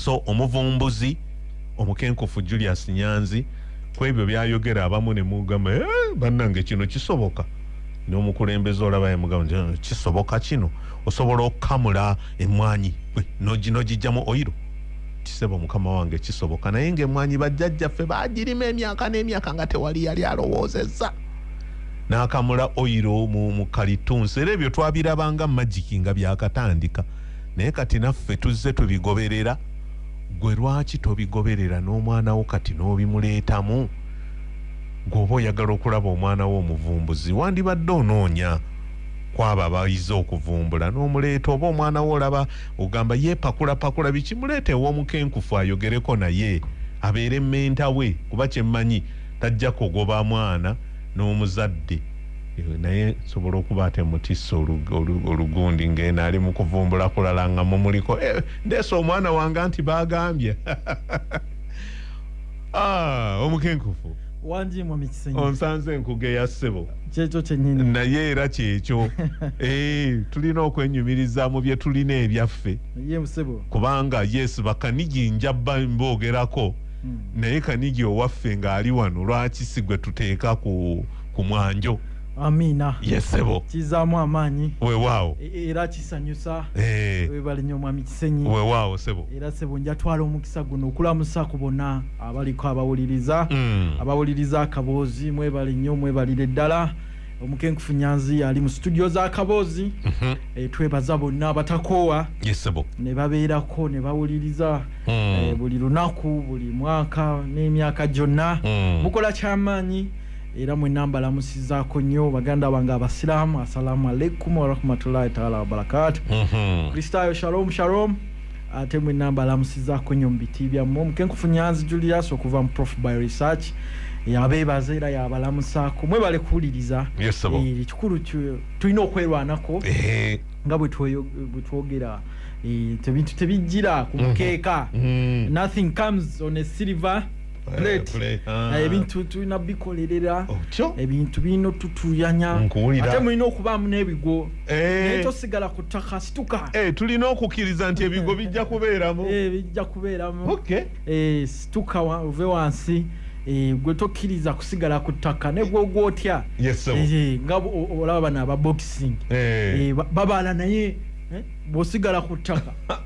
So omuvumbuzi omukenkufu Julius Nyanzi kwebyo byayogera abamu ne mugamba eh, bannange kino kisoboka n'omukulembeze olaba yamugamba nti eh, kisoboka kino osobola okukamula emmwanyi nogijjamu oyiro kisebo mukama wange kisoboka naye ngaemmwanyi bajjajjaffe bagirima emyaka n'emyaka nga tewali yali alowoozezza n'akamula oyiro mu kalitunsi era ebyo twabirabanga magiki nga byakatandika naye kati naffe tuzze tubigoberera gwe lwaki tobigoberera n'omwana wo kati n'obimuleetamu gweoba oyagala okulaba omwana wo omuvumbuzi wandibadde onoonya kwabo abayize okuvumbula n'omuleeta oba omwana wo olaba ogamba yeepakulapakula biki muleeta ew'omukenkufu ayogereko naye abeere menta we kuba kyemmanyi tajja kugoba mwana n'omuzadde naye nsobola okuba ate mutisse olugundi ng'eno ali mu kuvumbula kulala nga mumuliko eh, ndeese omwana wange nti baagambye ah, omukenkufu onsanze enkuge ya ssebo naye era kyekyo eh, tulina okwenyumiriza mu bye tulina ebyaffe kubanga yes bakanigi njabba mboogerako hmm. naye kanigi owaffe ng'ali wano lwaki si gwe tuteeka ku ku mwanjo amiina yesebo kizaamu amaanyi wewaawo e, e, era kisanyusa eh. webale nyo omwami kisenyi wewaawo sebo era sebo njatwala omukisa guno okulamusa ku bona abaliko abawuliriza mm. abawuliriza akaboozi mwebale nyo mwebalire ddala omukenkufu nyanzi ali mu situdio za kaboozi mm -hmm. e, twebaza bonna abatakoowa yesebo ne babeerako ne bawuliriza mm. e, buli lunaku buli mwaka n'emyaka gyonna mm. mukola kyamaanyi era mwena mbalamusizako nyo baganda bange abasilamu assalamu alaikum warahmatullahi taala wabarakat mhm. kristayo shalom shalom ate mwena mbalamusizako nyo mubiti byamu omukenkufu nyanzi julius okuva mu prof by research yabebaza era yabalamusako mwebale kuwuliriza eh, ekikulu tulina okwerwanako nga bwetwogera eh, tebintu tebijjira ku mhm. mukeeka mhm. nothing comes on a silver Eh, ah. ebintu tulina bikolerera ebintu birina otutuyanya ate mulina okubaamu n'ebigo eh. naye tosigala ku ttaka situka eh, tulina okukkiriza nti ebigo bijja kubeeramu bijja kubeeramu situka ove wansi Eh, gwe tokkiriza kusigala ku ttaka negwogwa otya eh, nga olaba bano aba boxing eh. babaala naye bosigala ku ttaka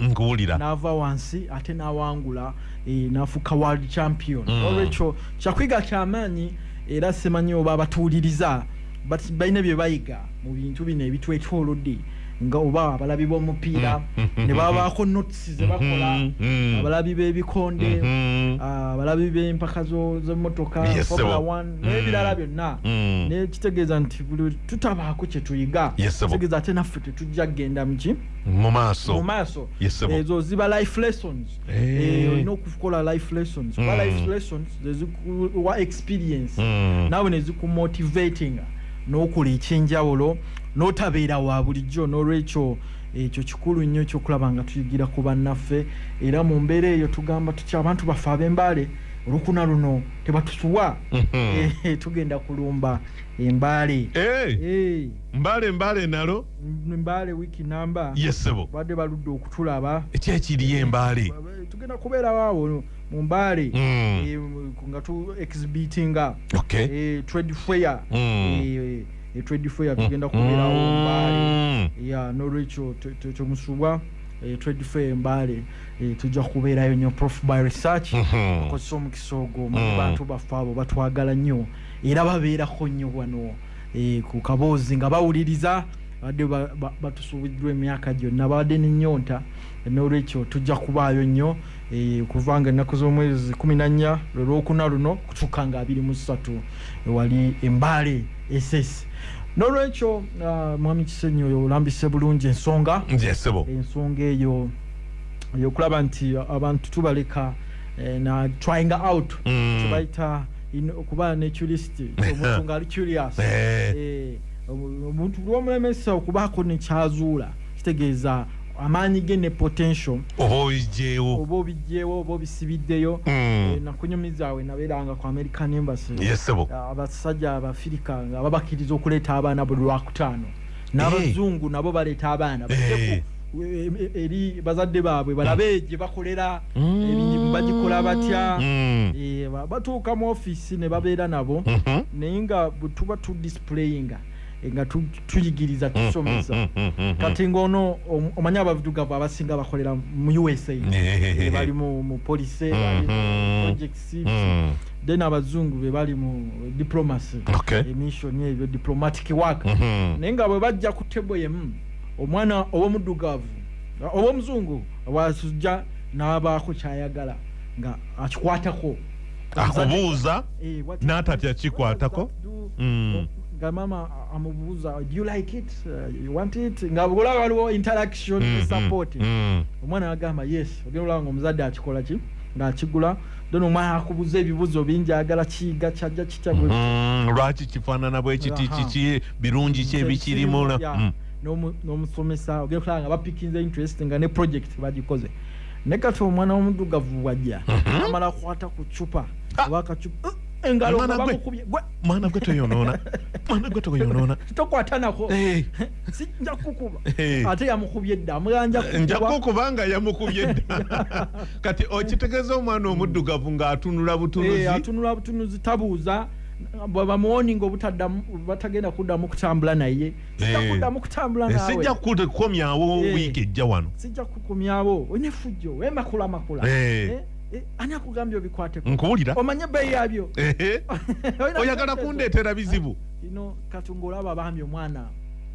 nkuwulira naava wansi ate nawangula eh, nafuuka world champion mm. olwekyo kyakwiga kyamaanyi era simanyi oba abatuwuliriza but balina bye bayiga mu bintu bino ebitwetwolodde nga oba abalabi b'omupiira mm. ne babaako notes ze bakola mm-hmm. Mm-hmm. abalabi b'ebikonde mm-hmm. ah, abalabi b'empaka z'emmotoka formula one mm. n'ebirala byonna mm. nekitegeeza nti buli tutabaako kye tuyiga kitegeeza ate naffe tetujja kugenda muki mu maaso mu maaso ezo ziba life lessons eh. Eh, olina okukola life lessons kuba hmm. life lessons zezikuwa experience hmm. nawe nezikumotivatinga n'okola ekyenjawulo n'otabeera wa bulijjo n'olwekyo ekyo kikulu nnyo ekyokulaba nga tuyigira ku bannaffe era mu mbeera eyo tugamba tutya abantu baffe ab'embaale olukuna luno tebatusuwa hmm. eh, tugenda kulumba embaale mbale mbale nalo mbale wiki namba yesebo bade baludde okutulaba ekyekiriye embale tugenda kubeera waawo mu mbale mm. eh, nga tu exhibitinga okay. e, trade fair mm. e, e, trade fair tugenda kubeerawo mm. mbale ya nolwekyo temusubwa e, trade fair mbale e, tujja kubeerayo nyo prof by research mm-hmm. okozesa omukisa ogwo mm. bantu baffe abo batwagala nnyo era babeerako nnyo wano eh, ku kaboozi nga bawuliriza badde batusuubiddwa emyaka gyonna babadde nenyonta n'olwekyo tujja kubaayo nnyo eh, okuva nga ennaku z'omwezi kumi nannya lwolwokuna luno kutuuka nga abiri mu ssatu wali embaale esesi n'olwekyo uh, mwami kisenyi oyo olambise bulungi ensonga ensonga eyo eyokulaba nti abantu tubaleka eh, na trying out mm. tubaita okuba ne culisiti omuntu ngaali curious eh. Eh, omuntu lwomulemesa okubaako nekyazuula kitegeeza amaanyi ge ne potential oba obijjeewo oba obijjeewo oba obisibiddeyo hmm. eh, nakunyumizaawe nabeeranga ku american embassy yesebo ah, abasajja abafirika nga babakiriza okuleeta abaana buli lwakutaano n'abazungu nabo baleeta abaana eri bazadde baabwe balabe gye bakolera mm. emirimu bagikola batya mm. eh, batuuka mu ofiisi ne babeera nabo mm-hmm. naye nga tuba tu displayinga eh, nga tuyigiriza mm-hmm. tusomesa mm-hmm. kati ngaono omanya abadugavu abasinga bakolera mu usa eh, bali mu police projects mm. then abazungu be bali mu diplomacy emission ebyo diplomatic work naye nga bwe bajja ku table yemu omwana ow'omuddugavu ow'omuzungu wasujja n'abaako kyayagala nga akikwatako akubuuza eh, n'atatya kikwatako mm. nga maama amubuuza do you like it uh, you want it nga olaba waliwo interaction mm-hmm. support mm. omwana agamba yes ogenda olaba nga omuzadde akikola ki ng'akigula dona omwana akubuza ebibuzo bingi agala kiyiga kyaja kitya mm-hmm. lwaki kifaanana bwekiti kiki birungi ki ebikirimu mm. n'omusomesa ogenda okulaba nga bapikinze interest nga ne project bagikoze ne kati omwana w'omuddugavu wajja mm-hmm. amala akwata ku cupa ah! oba akacupa mwana gwe toyonoona mwana gwe toyonoona tokwatanako eh. sijja kukuba eh. ate yamukubye dda amuganja nja kukuba nga yamukubye dda kati okitegeza omwana omuddugavu ng'atunula butunuzi eh, atunula butunuzi tabuuza bamuwoninga obutaddamu batagenda kuddamu kutambula naye sijja eh. kuddamu kutambula nawe sijja kukomyawo eh. wiiki ejja wano sijja kukomyawo onefujjo wemakula makula Eh, ani akugambye obikwateko nkuwulira omanye ebbeeyi yabyo oyagala kundeetera bizibu ino kati ngaolaba bambi omwana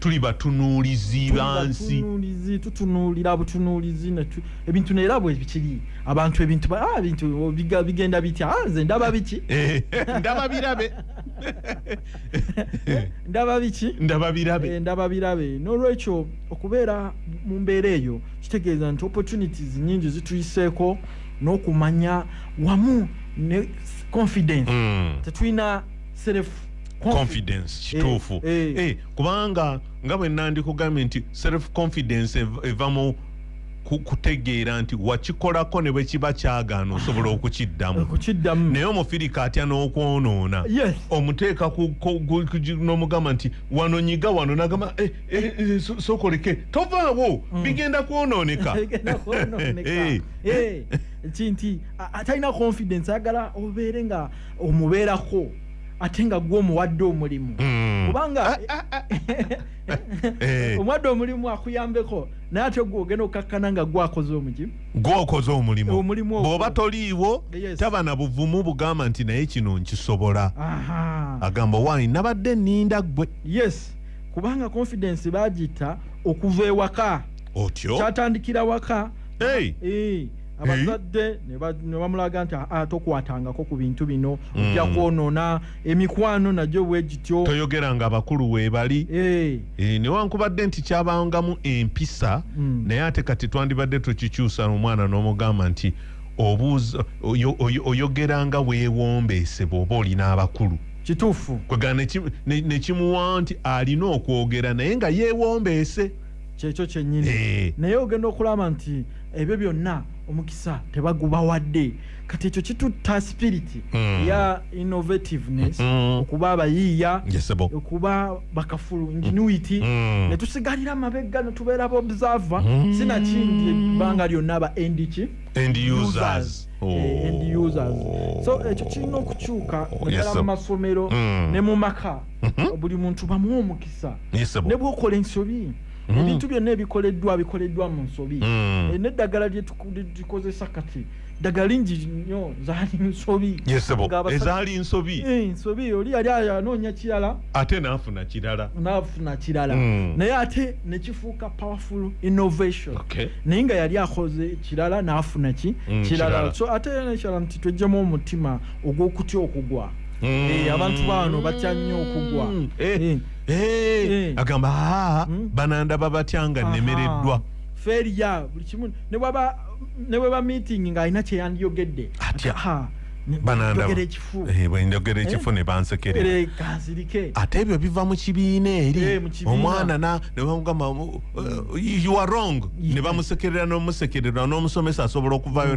tuli batunuulizi bansi tutunuulira butunuulizi ebintu neera bwe bikiri abantu ebintu ah, bintu bigenda bitya ah, nze ndaba biki eh, ndaba birabe ndaba biki ndaba birabe eh, ndaba birabe n'olwekyo okubeera mu mbeera eyo kitegeeza nti opportunities nyingi zituyiseeko n'okumanya wamu ne confidence mm. tetulina self confidence kituufu eh, eh. eh, kubanga nga bwe nandikugambye nti self confidence eva mu kutegeera nti wakikolako ne bwe kiba kyagaana osobola okukiddamu naye omufirika atya n'okwonoona omuteeka n'omugamba nti wano nyiga wano nagamba eh, eh, eh, sokoleke tovaawo mm. bigenda kwonooneka kinti atalina confidence ayagala obeere nga omubeerako ate nga gwe omuwadde omulimu hmm. kubanga ah, ah, ah. Eh. omuwadde omulimu akuyambeko naye ate gwe ogenda okukakkana nga gwakoze omuki gwokoze omulimu bwoba toliiwo taba na buvumu bugamba nti naye kino nkisobola agamba wani nabadde ninda gwe yes kubanga confidence bagiyita okuva ewaka otyo kyatandikira waka hey. hey. Eh. abazadde ne bamulaga nti ah, tokwatangako ku bintu bino mm. ojja kwonoona emikwano nagyo bwe gityo toyogera nga abakulu weebali eh. eh, newankubadde nti kyabangamu empisa mm. naye ate kati twandibadde tukikyusa omwana n'omugamba nti obuuza oyogera nga weewombeese bw'oba olina abakulu kituufu kwegana nekimuwa nti alina okwogera naye nga yeewombeese kyekyo kyennyini eh. naye ogenda okulaba nti ebyo byonna omukisa tebagubawadde kati ekyo kitutta spiriti mm. ya innovativeness mm. okuba abayiiya yes, okuba bakafulu ingenuity mm. netusigalira amabegga netubeera baobserver mm. sinakindi ebbanga lyonna aba endiki end users eh, end users so ekyo kirina okukyuka naddala mu masomero mm. ne mu maka mm-hmm. buli muntu bamuwa omukisa ne bwokola ensobi mm. ebintu byonna ebikoleddwa bikoleddwa mu nsobi mm. eh, neddagala lyetukozesa kati ddagala lingi nyo zaali nsobi ezaali nsobi eh, nsobi oli yali anoonya kirala ate naafuna kirala naafuna kirala mm. naye ate nekifuuka powerful innovation naye nga yali akoze kirala naafuna ki kirala so ate nekirala nti twejjemu omutima ogw'okutya okugwa abantu baano batya nnyo okugwa eh. agamba aa hmm? banandaba batya nga nemereddwa feria buli kimu ne bweba meeting ng'alina kyeyandiyogedde atya banandabagera ekifu eh, ne bansekerera ate ebyo biva mu kibiina eri eh, omwana nebamugamba eh, you are wrong ne bamusekerera n'omusekerera n'omusomesa asobola okuvaayo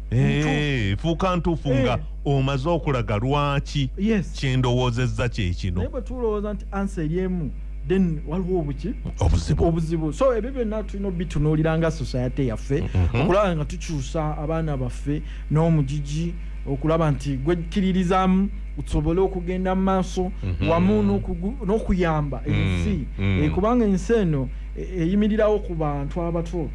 fuuka ntuufu eh. nga omaze okulaga lwaki kyendowoozezza kyekino naye bwe tulowooza nti ansa eri emu then waliwo obuki obuzibu obuzibu so ebyo byonna tulina obitunuulira nga society yaffe mhm. okulaba nga tukyusa abaana baffe n'omugigi okulaba nti gwekkiririzamu tusobole okugenda mu maaso mhm. wamu n'okuyamba ensi mhm. eh, kubanga ensi eno eh, eyimirirawo ku bantu abato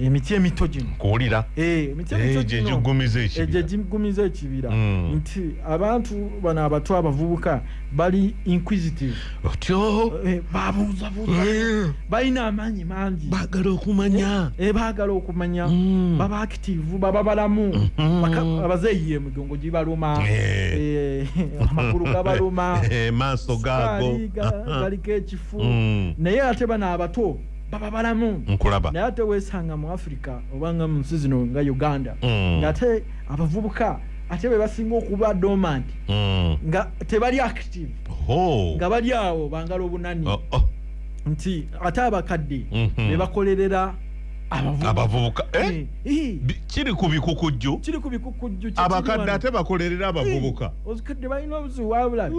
emiti emito gino kuwulira eh, emiti emito eh, gino gyegigumiza ekibira eh, gyegigumiza ekibira mm. nti abantu bano abato abavubuka bali inquisitive otyo babuuza buuza balina amaanyi mangi bagala okumanya eh bagala okumanya mm. baba active baba balamu mm-hmm. abazeeyi emigongo gibaluma amagulu gabaluma maaso gaago galiko ekifu mm. naye ate bano abato baba balamu nkulaba naye ate wesanga mu africa obanga mu nsi zino nga uganda mm. ngaate abavubuka ate bebasinga okuba dormant mm. nga tebali active oh. nga bali awo bangala obunani oh, oh. nti ate abakadde mm -hmm. bebakolerera abavubuka eh? eh, eh. kiri ku bikukujju kiri ku bikukujju abakadde ate bakolerera abavubuka eh, ozikadde balina obuzibu wabulabi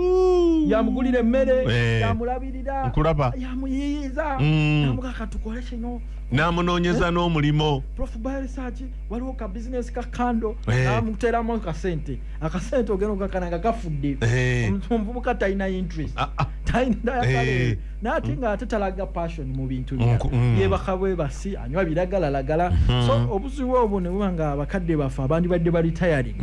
yamugulira emmere yamulabira nkulaba yamuyiyiza mm. namuga katukole kino namunoonyeza eh? n'omulimu prof biresearch waliwo ka bizinesi ka kando eh. namuteeramu akasente akasente ogenda okakana nga kafudde eh. omuvubuka talina interest ah, ah. talinayakale naate nga ate talaga passion mu bintu bya mm. yebaka bwe basi anywa biragalalagala mm-hmm. so obuzibu obwo ne buba nga abakadde baffe abandibadde balitayaring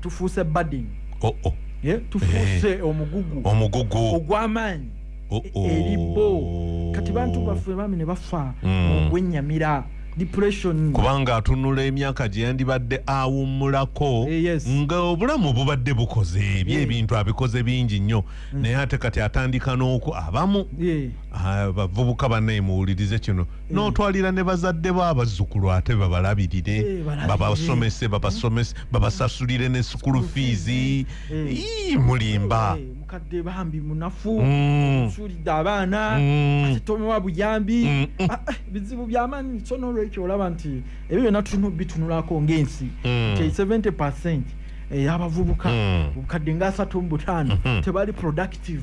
tufuuse bading oh, oh. yeah, tufuuse eh. omugugu omugugu ogw'amaanyi oh, oh. eri bo kati bantu baffe bami ne bafa mm. ogwennyamira depression kubanga atunula emyaka gye yandibadde awummulako eh, yes. nga obulamu bubadde bukoze ebyo yeah. ebintu abikoze bingi nnyo mm. naye ate kati atandika n'oku abamu yeah. abavubuka banaye muwulirize kino Eh. n'otwalira ne bazadde bo abazzukulu ate babalabirire eh, babasomese babasomese hmm. babasasulire ne sukulu fiizi eh. mulimba mukadde bambi munafu hmm. osuulidde abaana hmm. ate tomewa buyambi ah, ah, bizibu byamanyi so nolwekyo olaba nti ebyo byonna tulina obitunulako ng'ensi nti 70 percent eyabavubuka obukadde nga asatu mu butaano tebali productive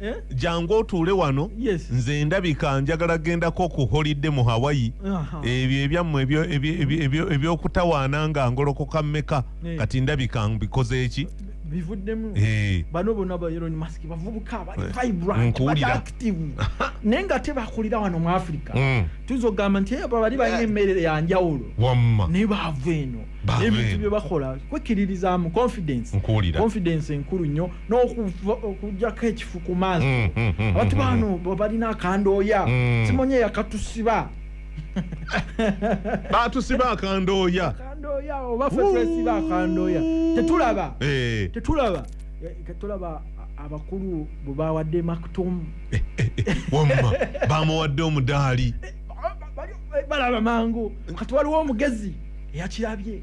Eh? jangu otuule wano yes. nze ndabika njagala gendako ku holidde mu hawaii ebyo ebyammwe ebyokutawaana nga ngolokoka mmeka eh. kati ndabika mbikoze eki bivuddemu eh. bano bona baelon mask bavubuka balivibrantactive naye nga tebakulira wano mu africa mm. tuyinza okugamba nti abo bali balina emmeere yanjawulo naye baava eno ebintu byebakola kwekiririzamu confidence confidence enkulu nnyo nokujako ekifu ku maaso mm, mm, mm, abatu bano balina akandooya simonye yakatusiba batusiba akandooya obafetwesiba akandooya tetulaba eh. tetulaba eh, tetulaba abakulu bwebawadde maktum eh, wamma bamuwadde omudaali balaba mangu kati waliwo omugezi eyakirabye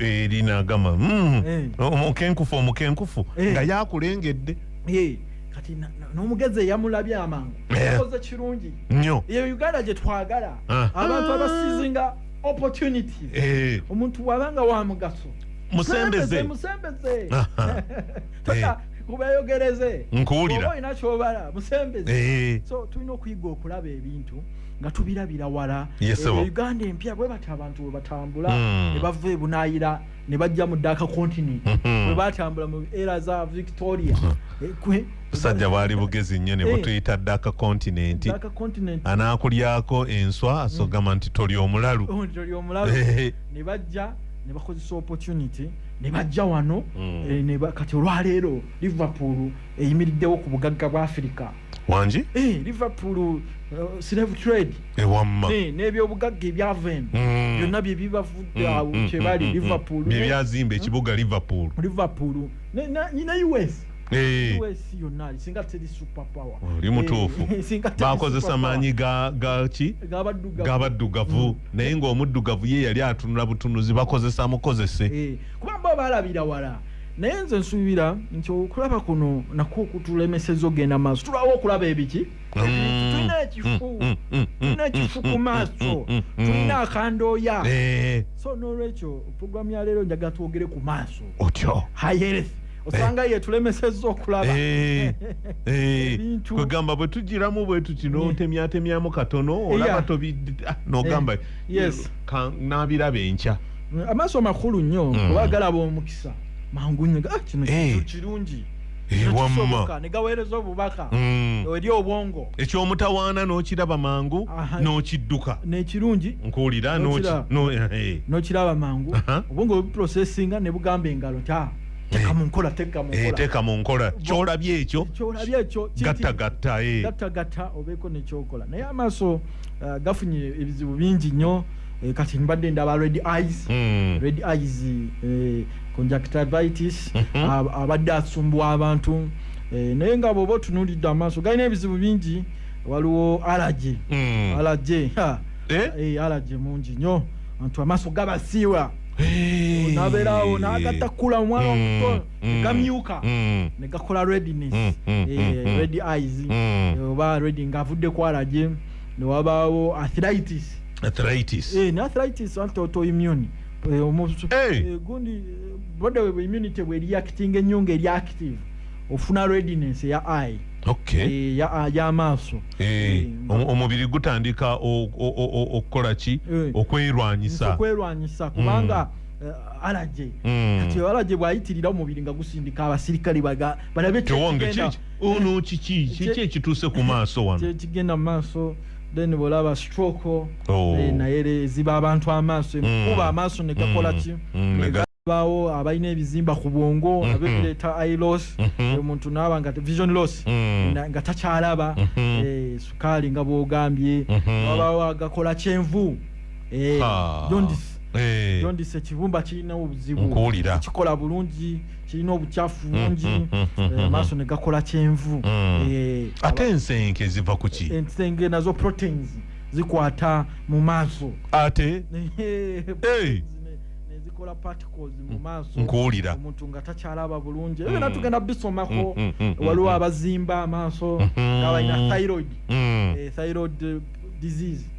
erinagamba eh, mm, eh. omukenkufu omukenkufu eh. nga yakulengedde kati n'omugezi eyamulabye amangu akoze kirungi nyo eyo uganda gye twagala ah. abantu abasizinga opportunity omuntu wabanga wa mugaso musembeze musembeze kubeyogereze nkuwulira olina kyobala musembeze so tulina okuyiga okulaba ebintu nga tubirabira wala ebyo uganda empya bwe bati abantu bwe batambula hmm. ne bava ebunayira ne bajja mu daka continent hmm. bwe batambula mu era za victoria hmm. eh, sajja bwali bugezi nnyo ne eh. butuyita daka continent anaakulyako enswa asogamba nti toli omulalu oh, eh. ne bajja ne bakozesa opportunity ne bajja wano kati olwaleero liverpool eyimiriddewo ku bugagga bwa afirika wangi eh, liverpool uh, slave trade ewamma eh, eh, n'ebyobugagga ebyava eno mm. byonna bye bibavudde mm, awo mm, kyebali liverpool bye byazimba ekibuga liverpool liverpool nina us us yonna singa teri super power oli mutuufu bakozesa maanyi gaki gabaddugavu naye ngaomuddugavu ye yali atunula butunuzi bakozesa mukozese kuba bo balabira wala naye nze nsuubira nti okulaba kuno nakwo okutulemeseza okugenda maaso tulawo okulaba ebiki mm. tulina mm, ekifu mm, tulina ekifu ku maaso tulina akandooya eh. so nolwekyo puroguramu ya leero njagala twogere ku maaso otyo hayereth osanga eh. yetulemeseza okulaba eh. kwegamba bwe tugiramu bwetu kino otemyatemyamu katono olaba tobinogamba ah, nabiraba enkya mm, amaaso makulu nnyo mm. oba galaba omukisa mangu nnyo ah, kino eh. kintu kirungi eh, wamma negaweereza obubaka mm. eri obwongo ekyomutawaana n'okiraba mangu n'okidduka nekirungi nkuwulira eh, n'okiraba mangu obwongo webuprocesinga ne bugamba engalo ta teka mu nkola teka mu nkola eh, teka mu nkola kyolabye ekyo kyolabye ekyo gatta gatta eh gatta gatta obeko ne kyokola naye amaso uh, gafunye ebizibu bingi nyo eh, kati mbadde ndaba red eyes mm. red eyes eh, conjunctivitis mm -hmm. abadde asumbwa abantu eh, naye nga bwoba otunuulidde amaaso galina ebizibu bingi waliwo alaje mm. alaje eh? eh, alaje mungi nyo antu amaaso gabasiiwa hey. nabeerawo nagatta kula omwana mm. omuto mm. negamyuka mm. negakola rediness mm. Mm. Eh, mm. red eyes mm. oba redi ngaavudde ku alaje newabaawo athritis arthritis eh na arthritis anto to immune eh, omusu hey. eh, gundi eh, boda we immunity we reacting enyo nge reactive ofuna readiness ya eye okay eh, ya ah, ya maso eh, eh omubiri gutandika okukola ki eh, okwelwanyisa okwelwanyisa kubanga mm. Eh, alaje hmm. kati alaje bwayitirira omubiri nga gusindika abasirikale balabe ono kiki kiki ekituuse ku maaso wano kigenda mu maaso then bwolaba stroke oh. eh, naye ziba abantu amaaso mm. ekukuba amaaso ne gakola mm. ki mm, nebaawo abalina ebizimba ku bwongo mm-hmm. nabyo bireeta i loss mm-hmm. omuntu naaba nga vision loss nga takyalaba mm-hmm. eh, sukaali nga bwogambye wabaawo agakola kyenvu eh, jondis jondis ekibumba kirina obuzibu kikola bulungi kirina obukyafu bungi mm, mm, mm, eh, amaaso ne gakola kyenvu eh, ate ensenge ziva ku ki ensenge nazo proteins zikwata mu maaso ate zikola particles mu maaso nkuwulira omuntu nga takyalaba bulungi ebyo natugenda bisomako waliwo abazimba amaaso nga balina thyroid eh, thyroid disease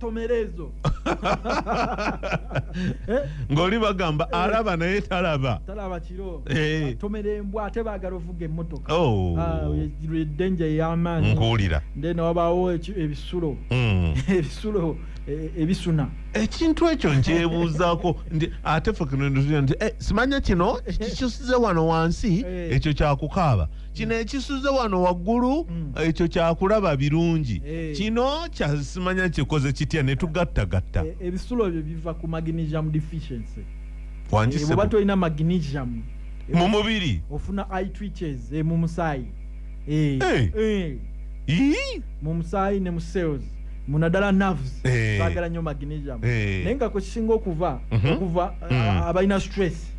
tomerezo Eh, ng'oli bagamba Eh. alaba naye talaba talaba kiro Eh. tomera embwa ate baagala ovuga emmotoka Oh. Ah, ye- ye danger ey'amaanyi nkuwulira nde newabaawo eki- ebisulo Mm. ebisulo eh, ebisuna ekintu ekyo nkyebuuzaako nti ate fe kino nti eh, simanya kino kikisuze wano wansi Eh. ekyo kyakukaaba kino mm. ekisuze wano waggulu mm. ekyo kyakulaba birungi eh. kino kyasimanya kikoze kitya netugattagatta eh, ebisulo ebyo biva ku magnesium deficiency wangiseba eh, tolina magnesium mu mubiri ofuna eye twitches mu musaayi mu musaayi ne mu cells munadala nerves bagala nyo magnesium naye nga kwekisinga okuva mhm. okuva mm. abalina stress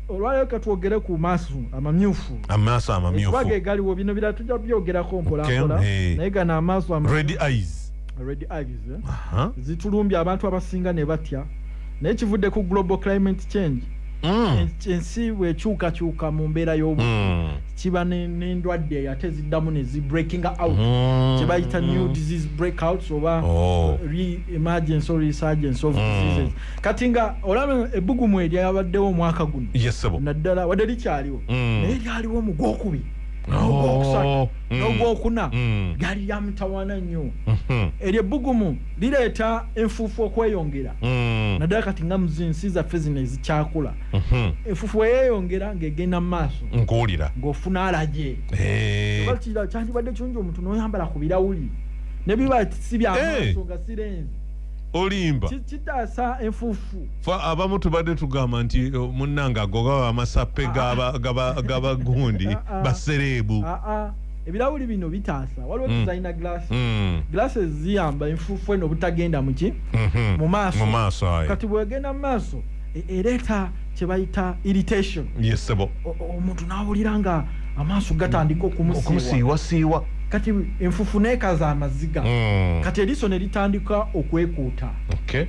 olwaleero katwogere ku maaso amamyufu amaaso amamyufu kuba ge galiwo bino birala tujja kubyogerako mpolampola naye gano amaaso red eyes red eyes eh? zitulumbye abantu abasinga ne batya naye kivudde ku global climate change mm. ensi bwekyukakyuka mu mbeera y'obu mm. kiba n'endwadde ate ziddamu ne zi breaking out mm. kye bayita new disease breakouts oba oh. re emergency or resurgence of diseases kati nga olaba ebbugumu eryo yabaddewo omwaka guno naddala wadde likyaliwo mm. naye lyaliwo mu gwokubi oh. mm. nogwokuna mm. lyali lyamutawana nnyo mm-hmm. eryo ebbugumu lireeta enfuufu okweyongera naddala kati nga muzinsi zaffe zino ezikyakula mm-hmm. enfuufu weyeyongera ngaegenda mu maaso nkuwulira ngaofuna alaje eh. kyandibadde kirungi omuntu noyambala ku birawuli nebiba sibyamaaso eh. nga sirenzi olimba kitaasa enfuufu fa abamu tubadde tugamba nti eh, munnange ago gaba amasappe gabagundi ah, ah. basereebu ah, ebirawuli bino bitaasa waliwo mm. designer glass mm. glasses ziyamba enfuufu eno obutagenda muki mm-hmm. mu maaso kati bwegenda mu maaso e, ereeta kye bayita irritation yesebo omuntu n'awulira nga amaaso gatandika okumusiiwasiiwa kati enfufu neekaza amaziga hmm. kati eriso ne litandika okwekuuta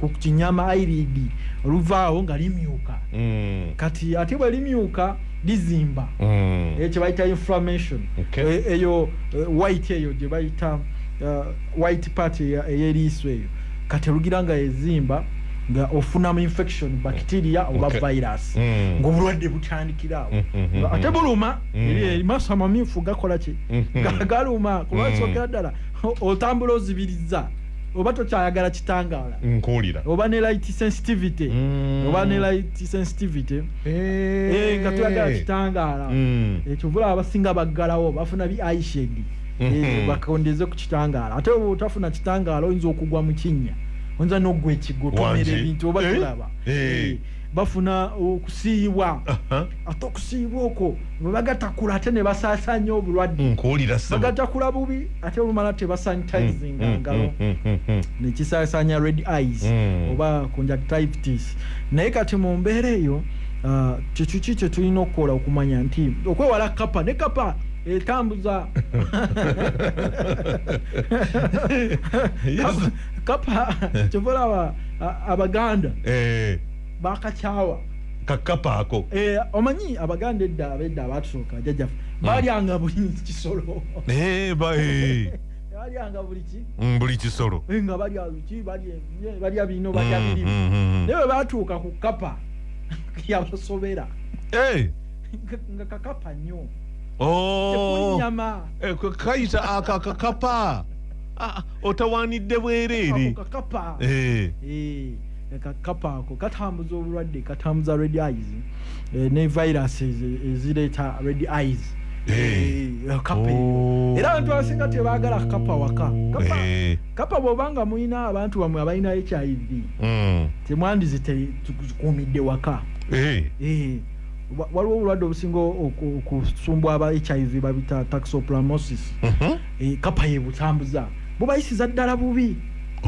ku kinyama airidi oluvaawo nga limyuka hmm. kati ate bwe limyuka lizimba hmm. ekyo eh, bayita inflammation eh, eyo eh, white eyo gye bayita white part eyeriiso eyo kati olugira nga ezimba nga ofunamu infection bacteria oba okay. virus mm. ngaobulwadde butandikiraawo mm, mm, mm, mm. ate buluma mm. maso amamyufu gakola ki mm, mm. galuma kubansogera mm. ddala otambula ozibiriza oba tokyayagala kitangaala nkuwulira oba ne light sensitivity mm. oba ne light sensitivity eh. Eh, nga hey. hey, toyagala kitangaala mm. ekyo vula abasinga baggalawo bafuna bi aishedi Eh, mhm. bakondeze ku kitangaala ate oba otafuna kitangaala oyinza okugwa mu kinnya oyinza n'oggwa ekigo tomera ebintu oba eh? tulaba eh. bafuna okusiiyibwa ate okusiiyibwa okwo bebagatakula ate ne basaasaanya obulwadde bagatakula bubi ate olumala tebasanitizinga mm, mm, ngalo mm, nekisaasaanya red eyes oba conjunctivitis naye kati mu mbeera eyo ah, kyekyo ki kyetulina okukola okumanya nti okwewala kapa ne kapa etambuza Yes. kapa kyova olaba a- abaganda Eh, bakakyawa kakapa ako Eh, omanyi abaganda edda abedda abatusooka jajjafe balyanga buli kisolo Eh, ba- eh, balyanga buli ki mm, buli kisolo Eh, nga balya ki balya ebinye, balya bino balya Mm, birimu mm, mm, mm. naye bwe batuuka ku kapa yabasobera Eh, nga kakapa nnyo oh. eh, kayita akakakapa ah, otawanidde bwereere kakapa eh. Eh, kakapa ako katambuza obulwadde katambuza red eyes ne virus ezireeta red eyes kapa oh. era abantu abasinga tebagala kapa waka kapa bwobanga mulina abantu bamwe abalina hiv hmm. temwandizitekuumidde waka waliwo obulwadde obusinga okusumbwa aba hiv babita taxoplamosis mhm. e, kapa yebutambuza bubayisiza ddala bubi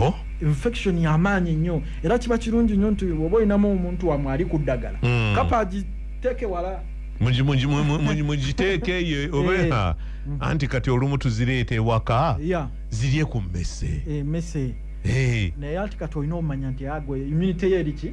oh. infection yamaanyi nnyo era kiba kirungi nnyo nti oba olinamu omuntu wamwe ali ku ddagala hmm. kapa agiteeke wala mugiteeke eyo eh. obeha hmm. anti kati olumu tuzireeta ewaka zirye ku mmese eh, naye ati kati olina omanya nti agwe immunity yeriki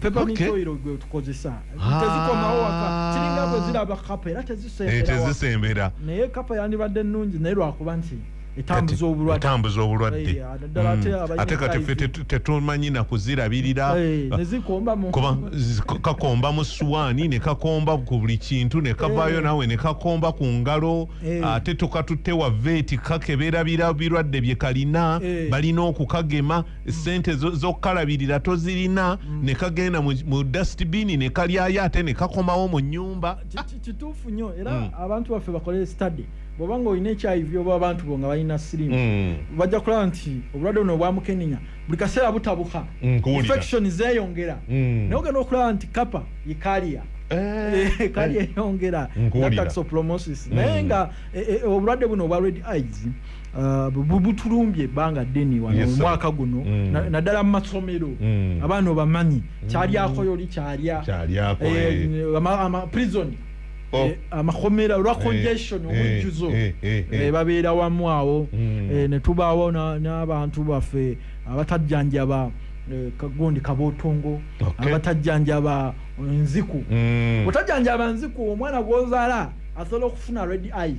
peppermint Okay. oil gwe tukozesa Ah. tezikomawo waka kiringa bwe ziraba kapa era Eh, tezisembera waka. tezisembera naye kapa yandibadde nnungi naye lwakuba nti etambuza obulwadde etambuza obulwadde Eh, naddala ate Mm. abalina ate kati ffe HIV. tetu- tetumanyi na kuzirabirira Eh, ne zikomba mu kuba zi- ka- kakomba mu suwaani ne kakomba ku buli kintu ne kavaayo Eh. nawe ne kakomba ku ngalo Eh. ate tokatutte wa veeti kakebera bira- birwadde bye kalina Eh. balina okukagema sente zokukalabirira tozirina mm. nekagenda mu dustbin nekalyayo ate nekakomawo mu nyumba kituufu nyo era mm. abantu baffe bakole study bwoba nga olina ekyayivi oba abantu bo nga balina sirimu mm. bajja kulaba nti obulwadde buno obwamukenenya buli kaseera butabuka infection zeyongera naye ogenda okulaba nti kapa yekaliya Eh, eh, kali eyongera nataxoplomosis naye nga eh, obulwadde buno obwa red eyes Uh, butulumbye ebbanga ddene wano yes, omwaka guno mm. naddala na mu masomero mm. abaana obamanyi mm. kyalyako yoli kyalya prison amakomera olwa congestion omujjuzo babeera wamu awo mm. eh, ne tubaawo n'abantu baffe abatajjanjaba eh, kagundi kabotongo abatajjanjaba nziku mm. otajjanjaba nziku omwana gwozaala asobola okufuna red eyes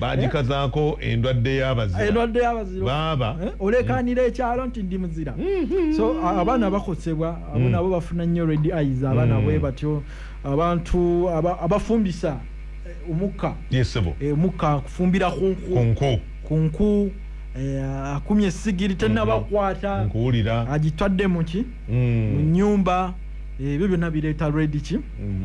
bagikazaako endwadde yabaziraendwadde yabazira baaba eh? olekanira mm. ekyalo nti ndi muzira mm-hmm. so abaana bakosebwa abo mm. nabo bafuna nnyo red eyes abaana mm. bwe batyo abantu abafumbisa eh, omukka eh, omukka kufumbira kunku kunku Eh, akumye sigiri tenabakwata nkuwulira agitwadde muki mm. mu nyumba eh, ebyo byonna bireeta rediki mm,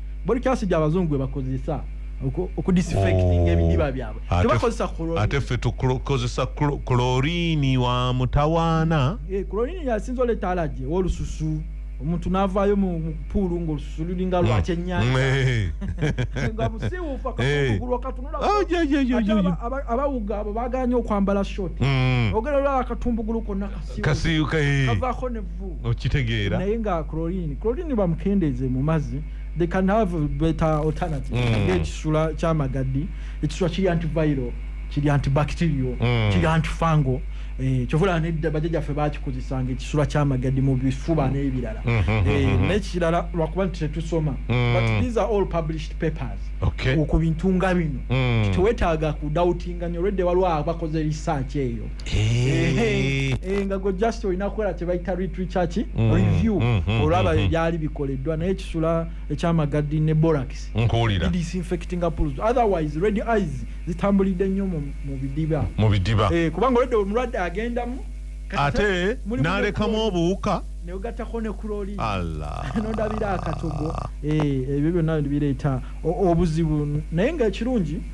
body cast gya bazungu gwe bakozesa okudisinfecting oh. ebidiba byabwe tebakozesa chlorine ate ffe tukozesa chlorine wa mutawaana eh, chlorine yasinza oleeta alaje wolususu omuntu navaayo mu puulu ngaolususu lulinga mm. lwakyenyanjanga musiwufa kakugulu akatunula abawuga abo baganye okwambala short mm. ogera olaba akatumbugulu konna kasiyuka eh. kavaako okitegeera naye nga chlorine chlorine bamukendeeze mu mazzi they can have better alternative mm. ekisula kyamagaddi ekisula kiri antiviral kiri antibacterial mm. kiri antifango eh, kyovula nedda bajajaffe bakikozesanga ekisula kyamagaddi mu bifuba n'ebirala mm -hmm, mm-hmm, eh, mm-hmm. nekirala lwakuba nti tetusoma mm. but these are all published papers okay. ku bintu nga bino mm. tewetaaga kudautinga nyo lwedde waliwo abakoze research eyo Eh. Eh, nga gwe just olina kukola kyebayita retrichaki mm, review mm, mm, olaba ebyali bikoleddwa naye kisula ekyamagadi ne borax disinfectinga pools otherwise red eyes zitambulidde nnyo mu bidiba mu bidiba eh, kubanga olwedde omulwadde agendamu ate nalekamu obuwuka neogatako ne kuloli nodabira akatogo ebyo byonna bireeta obuzibu naye nga ekirungi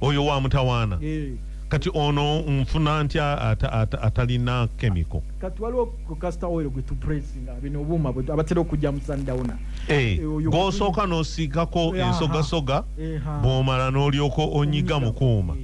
oyo wa mutawaana eh. kati ono nfuna nti atalina kemiko kati waliwo kukasita oil gwe tupresinga bino obuuma abatera okujja mu sundowna eh, eh, gwosooka nosiikako ensogasoga bwomala n'olyoka onyiga mukuuma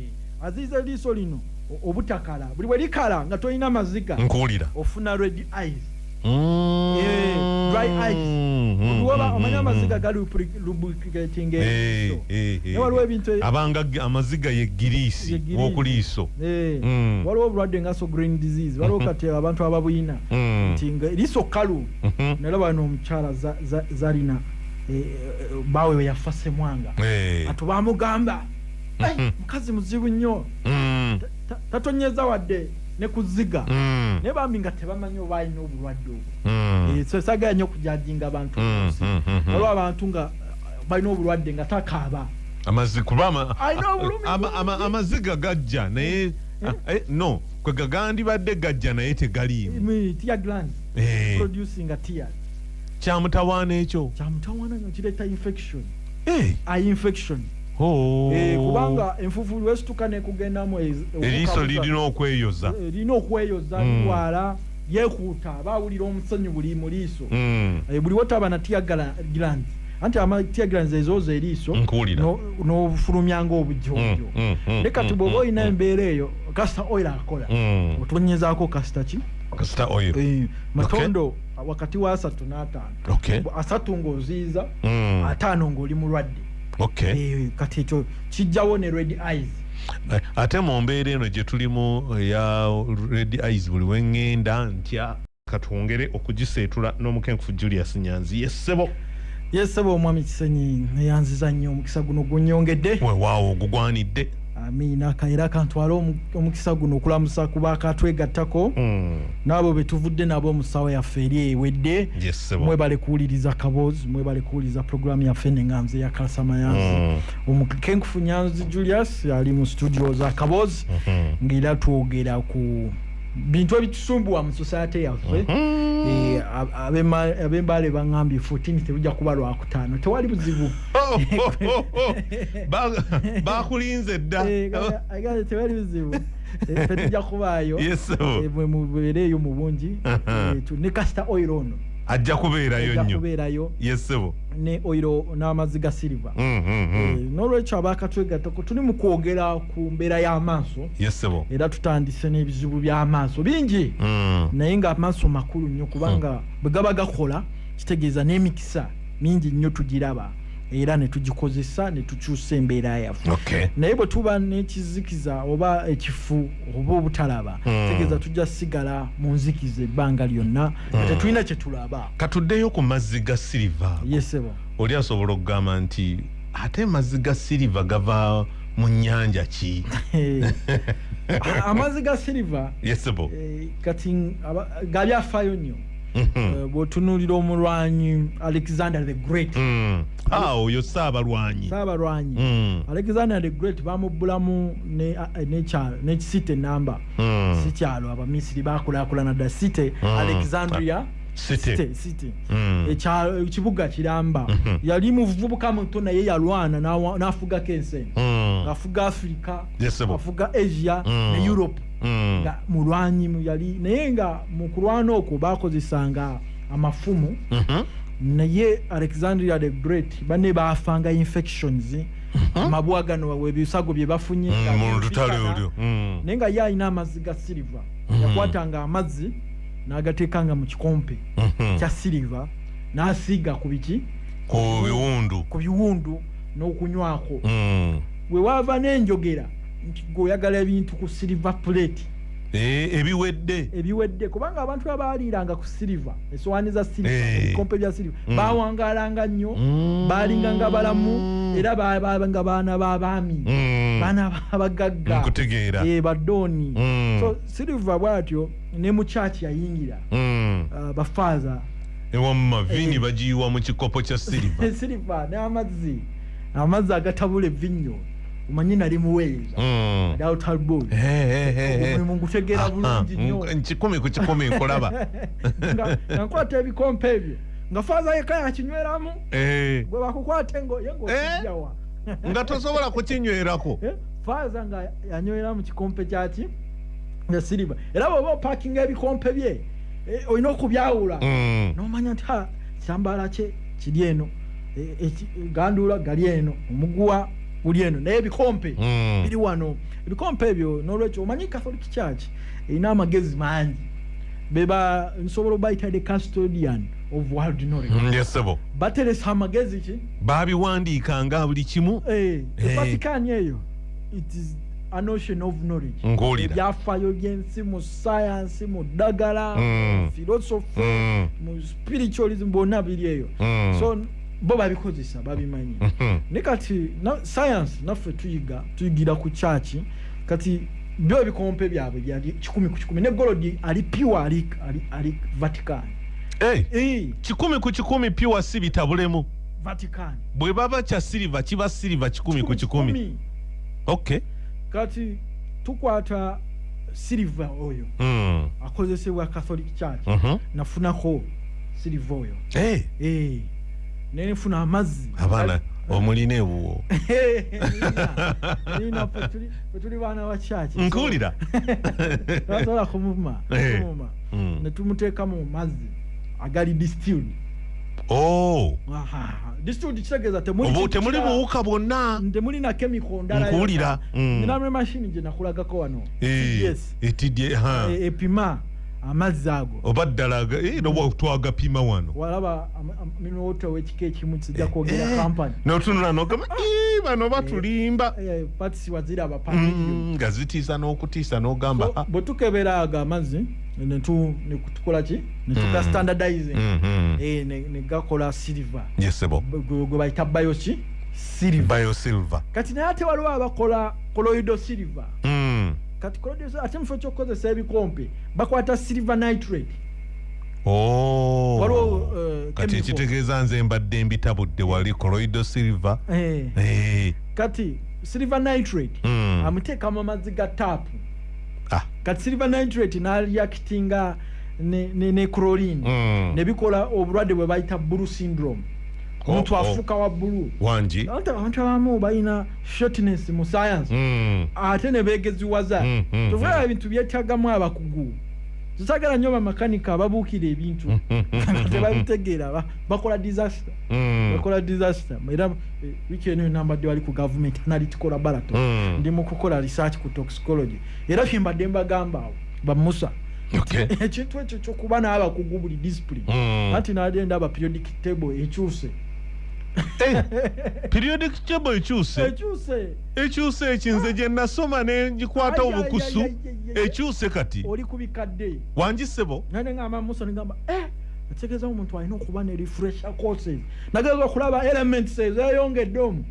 aziiza eriiso lino obutakala buli bwe likala nga tolina maziga nkuwulira ofuna red eyes Mm. Eh, dry eyes. Mm, mm, Luwaba mm, omanya mm, amaziga gali lupri- lubricating Eh, eriiso. eh, eh, Naye waliwo eh. ebintu e- abanga ge- amaziga ye giriisi ye giriisi. wokuliiso Eh, Mm. waliwo obulwadde nga so green disease waliwo kati abantu ababuyina Mm. nti nga eriiso kkalu Mhm. nalaba no omukyala za- za- zalina eh, eh, baawe we yafa semwanga Eh. atu bamugamba "Ai, mukazi muzibu nnyo Mm. tatonyeza wadde ne ku zziga mm. naye bambi nga tebamanyi oba alina obulwadde obwo mm. eh, so sagala nyo okujajinga abantu mm, olwo abantu nga eh, balina obulwadde nga takaaba amaziga gajja naye eh, eh, no kwe gagandibadde gajja naye tegaliimu kyamutawaana ekyo kyamutawaana nga kireeta infection infection Oh. Eh, kubanga enfufu lwesituka nekugendamu eriiso lirina okweyoza eh, lirina okweyoza hmm. lirwala yekuuta aba awulira omusonyi buli mu liiso hmm. eh, buli wotaba na tiagala gland anti amatia gland zezooza eriiso n'ofulumya ngaobujonjo hmm, ne kati bwoba olina embeera eyo kasita oil akola otonyezaako kasita ki kasita oil matondo wakati wa asatu n'ataano asatu ng'oziiza ataano ng'oli mulwadde okay. e, kati ekyo kijjawo ne red eyes eh, ate mu mbeera eno gye tulimu eya red eyes buli wengenda ntya katwongere okugiseetula n'omukenkufu julius nyanzi yessebo yessebo omwami kisenyi neyanziza nnyo omukisa guno gunyongedde wewaawo ogugwanidde amiina kaera kantwala omukisa guno okulamusa kuba akatwegattako mm. naabo betuvudde nabo musawo yaffe eri ewedde yes, mwebale kuwuliriza kaboozi mwebale kuwuliriza programu yaffe nenganze yakalasa mayanzi mm. omukenkufu nyanzi julius ali mu studio za kaboozi mm -hmm. ngaera twogera ku bintu ebitusumbuwa mu society yaffe mm-hmm. eh, abembaale bangambye 14 teruja kuba lwakutaano tewali buzibu bakulinze dda eh, tewali buzibu eh, tetuja kubaayo mwemubeereeyo mu bungi uh-huh. ne kasita oil ono ajja kubeerayo nyokubeerayo yesebo ne oiro n'amazzi ga siriva mm-hmm. nolwekyo abakatwegatako tuli mu kwogera ku mbeera y'amaaso yesebo era tutandise n'ebizibu by'amaaso bingi mm. naye nga amaaso makulu nnyo kubanga mm. bwe gaba gakola kitegeeza n'emikisa mingi nnyo tugiraba era ne tugikozesa ne tukyusa embeera yaffe okay. naye bwe tuba n'ekizikiza oba ekifu oba obutalaba mm. tegeeza tujja sigala mu nzikiza ebbanga lyonna mm. tetulina kye tulaba katuddeyo ku mazzi ga siriva yesebo oli asobola okugamba nti ate mazzi ga siriva gava mu nyanja ki eh, amazi ga silver yesebo eh, kati gabyafayo nyo mhm. eh, bwotunulira omulwanyi alexander the great mm. ah, oyo saabalwanyi saabalwanyi mm. alexander the great bamubbulamu nekisite namba mm. sikyalo abamisiri bakulakulana da site alexandria city hmm. ekibuga kiramba mhm. yali muvubuka muto naye yalwana nafugako ensi hmm. afuga africa afuga asia hmm. ne europe nga mulwanyi yali naye nga mukulwana okwo bakozesanga amafumu mhm. naye alexandria the great bane bafanga infections amabwa gano ebisago bye bafunye naye nga ye alina amazzi ga silver yakwatanga amazzi n'agateekanga mu kikompe mhm. kya siriva n'asiiga ku biki ku biwundu ku biwundu n'okunywako mm. we waava n'enjogera nti gweoyagala ebintu ku siriva puleeti Eh, ebiwedde ebiwedde kubanga abantu abaaliiranga ku siliva esowaani za siliva eh. ebikompe bya siliva mm. bawangalanga nnyo mm. baalinga nga balamu era babanga baana babaami mm. baana babagagga nkutegeera eh, badooni so siliva bwatyo ne mu church yayingira mm. uh, bafaaza ewamma vini eh. bagiyiwa mu kikopo kya siliva siliva n'amazzi amazzi agatabula evinnyo omanyi nali muweereza mm. daltalbon eh, eh, eh, omulimu ngutegeera bulungi nyo nkikumi ku kikumi nkulaba nga nkwata ebikompe ebyo nga faaza yeka yakinyweramu gwe bakukwate ngoyengokijawa nga tosobola kukinywerako faaza nga yanyweramu kikompe kyaki nga siriba era bwoba opakinga ebikompe bye eh, olina okubyawula Mm. nomanya nti ha kyambala kye kiri eno eh, eki- ganduula gali eno omuguwa guli eno naye ebikompe Mm. biri wano ebikompe ebyo nolwekyo omanyi catholic church erina amagezi mangi beba nsobola obayita the custodian of world knowledge Mm, yes, sebo bateresa amagezi ki babiwandiika nga buli kimu Eh, Eh. evatikani eyo it is ebyafayo byensi mu sayansi mu ddagala mm. philosophy mm. mu spiritualism bonna biri eyo mm. so bo babikozesa babimanyi mm-hmm. ne kati sayansi naffe tuyiga tuyigira ku kyaki kati byo ebikompe byabwe byali kikumi ku kikumi ne golodi ali pure ali, ali, ali vatican hey, eh, hey. Eh. kikumi ku kikumi pure si bitabulemu vatican bwe baba kya siliva kiba siliva kikumi ku kikumi, kikumi. okay kati tukwata silver oyo mm. akozesebwa catholic church mm -hmm. nafunako silver oyo hey. Eh. hey. Eh. nenefuna amazzi abana omulina ewuwo tuli baana ba church nkuwulira tasobola kumuma eh. mm. netumuteeka mu mazzi agali distilled Oh. temuli buwuka bwonna nkuwulira nkuwulirankulagako mm. wano eh, epima eh, amazzi ago oba ddala eh, twagapima wano walaba minota wekika ekimu kijja kwogera kampani notunula nogamba bano batulimba patisi wazira abapangi mm, nga zitiisa n'okutiisa nogamba bwetukebera ago amazzi netukolaki netuga mm. standardizing mm -hmm. e, ne, ne gakola silver yesebo gwe bayita bio ki silver bio silver kati naye ate waliwo abakola coloido silver mm. kati coloido silver ate mufo kyokukozesa ebikompe bakwata silver nitrate Oh. waliwo uh, kati ekitegeeza nze mbadde mbitabudde wali coloido silver hey. Eh. Hey. Eh. kati silver nitrate mm. amuteeka mu mazzi ga taapu ah. kati silver nitrate naliakitinga ne, ne, ne crolin mm. nebikola obulwadde bwe bayita bulu syndrome oh, omuntu oh, afuuka oh. wa bulu wangi abantu abamu balina shortness mu science mm. ate ne beegeziwaza mm, mm, tuvaa mm. ebintu byetagamu abakugu tusagala nyo bamakanika ababuukira ebintu tebabitegeera bakola disaster mm. bakola disaster era eh, wiki eno enambadde wali ku gavumenti analytical laboratory mm. ndi mu kukola research ku tox psychology era kyembadde mbagamba awo bamusa ekintu ekyo kyokuba n'abakugu buli discipline hmm. anti naali endaba periodic table ekyuse eh, periodic table ekyuse ekyuse ekinze gye nasoma ne ngikwata obukusu ekyuse kati oli ku bikadde wangisebo nane ngamba musa nigamba eh ategeeza omuntu alina okuba ne refresher courses nageeza okulaba elements ezeyongedde omu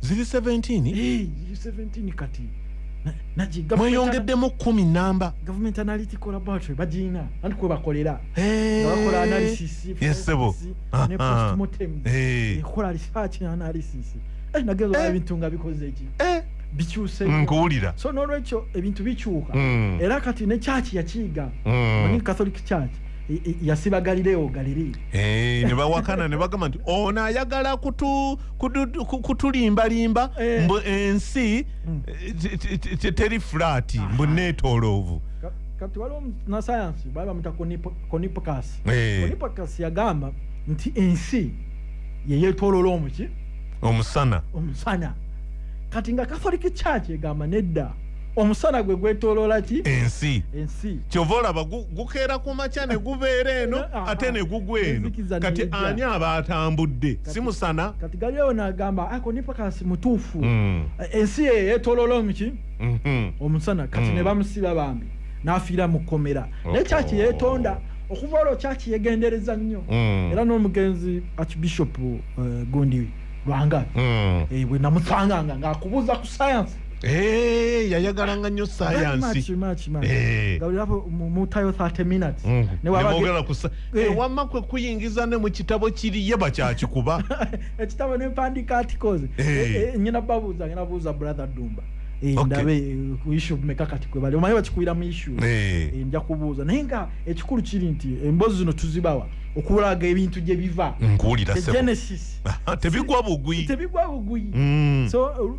ziri 17 kati mweyongeddemu kumi namba government analytical laboratory bagirina anti kwebakolera bakola analysis yesebo ne postmortem ekola research ne analysis eh, nageza olaba eh. ebintu nga bikoze eki eh. bikyuse nkuwulira so n'olwekyo ebintu bikyuka mm. era kati ne kyaki yakiyiga mm. catholic church yasiba galileo galiri eh, ne bawakana ne bagamba nti ono ayagala kutulimbalimba eh. mbu ensi hmm. eh, teri flat mbu netoloovu kati waliwo nasayansi bali bamuta konipkas konipkas yagamba nti ensi yeyetolola omuki omusana omusana kati nga katholiki church egamba nedda omusana gwe gwetoloola ki ensi ensi kyova olaba gukeera ku makya ne gubeera eno ah, ah, ate ne gugwa eno kati ani aba atambudde si musana kati galileo nagamba ako nipakasi mutuufu hmm. ensi eyo yetoloola omuki mhm. omusana kati hmm. ne bamusiba bambi n'afiira mu kkomera oh. naye kyaki yeetonda okuva olwo kyaki yegendereza nnyo hmm. era n'omugenzi archbishop eh, gundi lwanga eh, bwe namusanganga ng'akubuuza ku sayansi Eh, yayagalanga nnyo sayansi eh. nemwogera mm. kusa eh. eh, wamma kwe kuyingiza ne mu kitabo kiri ye bakyakikuba ekitabo nempandiika articles nyina babuuza ngena buuza brother dumba ndabe kuishu meka kati kwe bali omanyi bakikuira mu ishu nja kubuuza naye nga ekikulu kiri nti embozi zino tuzibawa okulaga ebintu gye biva nkuwulira genesis tebigwa bugwi tebigwa bugwi mm. so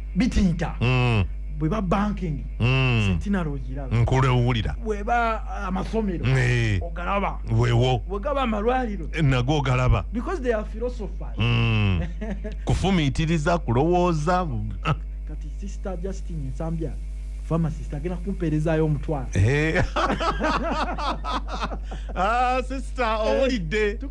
bitiita mm. bweba banking mm. sentinary ogiraba nkulu ewulira bweba uh, amasomero nee. ogalaba wewo wegaba amalwaliro eh, nago ogalaba because they are philosophers mm. kufumiitiriza kulowooza kati sister justin nsambya pharmacist agenda kumpeerezayo omutwalo eh. ah, sister owulidde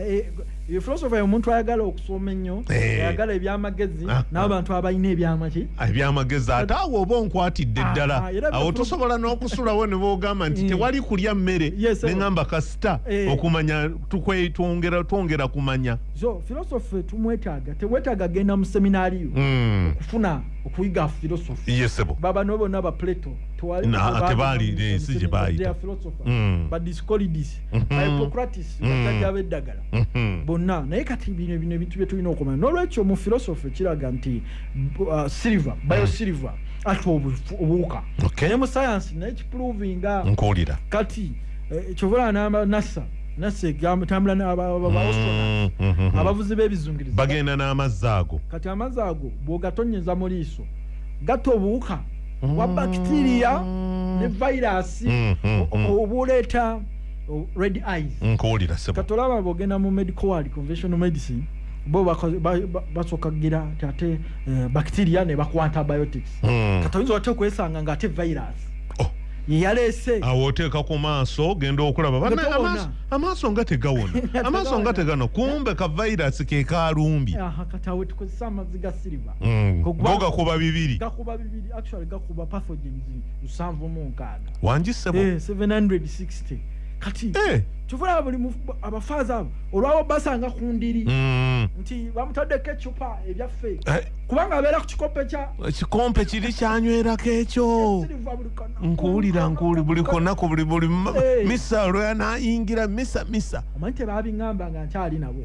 Eh, eh, filosofa yomuntu ayagala okusoma ennyo eh. ayagala ebyamagezi ah, ah. n'abantu abalina ebyamaki ah, ebyamagezi ate awo oba onkwatidde ddala awo tusobola n'okusulawo ne boogamba nti tewali kulya mmere ne ŋamba kasita okumanya twongera kumanya so filosofi tumwetaaga tewetaaga genda mu seminaariyo hmm. okufuna okuyiga filosofi yesebo baba no bona ba plato tewali na tebali ne sije bayita filosofa hmm. but this called this hypocratis mhm. bajjajja mhm. b'eddagala mhm. bonna naye kati bino bino ebintu bye tulina okumanya n'olwekyo mu philosophy kiraga nti uh, silver bio silver ati obuwuka naye mu sayansi naye kiprovinga nkuwulira kati eh, kyovola namba nasa nasa egambo tambula nabaostronat mm, abavuzi b'ebizungirizi bagenda n'amazzi ago kati amazzi ago bwogatonyeza mu liiso gatta obuwuka wa bacteria ne virus mm, mm, mm. obuleeta red eyes nkuwulira sebo katolaba bogenda mu medical world conventional medicine bo basooka kugira ti ate eh, bacteria ne bakuwa antibiotics hmm. katoyinza ote okwesanga nga ate virus oh. yeyaleese awo oteeka ku maaso ogenda okulaba bana amaaso nga tegawona amaaso nga tegano kumbe ka virus kekalumbye katawe tukozesa amazzi ga siriva Mm. Go gakuba bibiri. Gakuba bibiri actually gakuba pathogens nsanvu mu nkaaga. Wangi sebo. Eh 760. Kati. Eh. Tuvula buli abafaaza abo olwabo basanga ku ndiri. Mm. Nti bamutadde ke chupa ebya fe. Eh. Kubanga abera ku kikompe cha. Kikompe kiri kyanywera kecho. Nkuulira nkuuli buli kona ku buli buli eh. misa lwa na ingira misa misa. Omante babi ngamba nga nkyali nabo.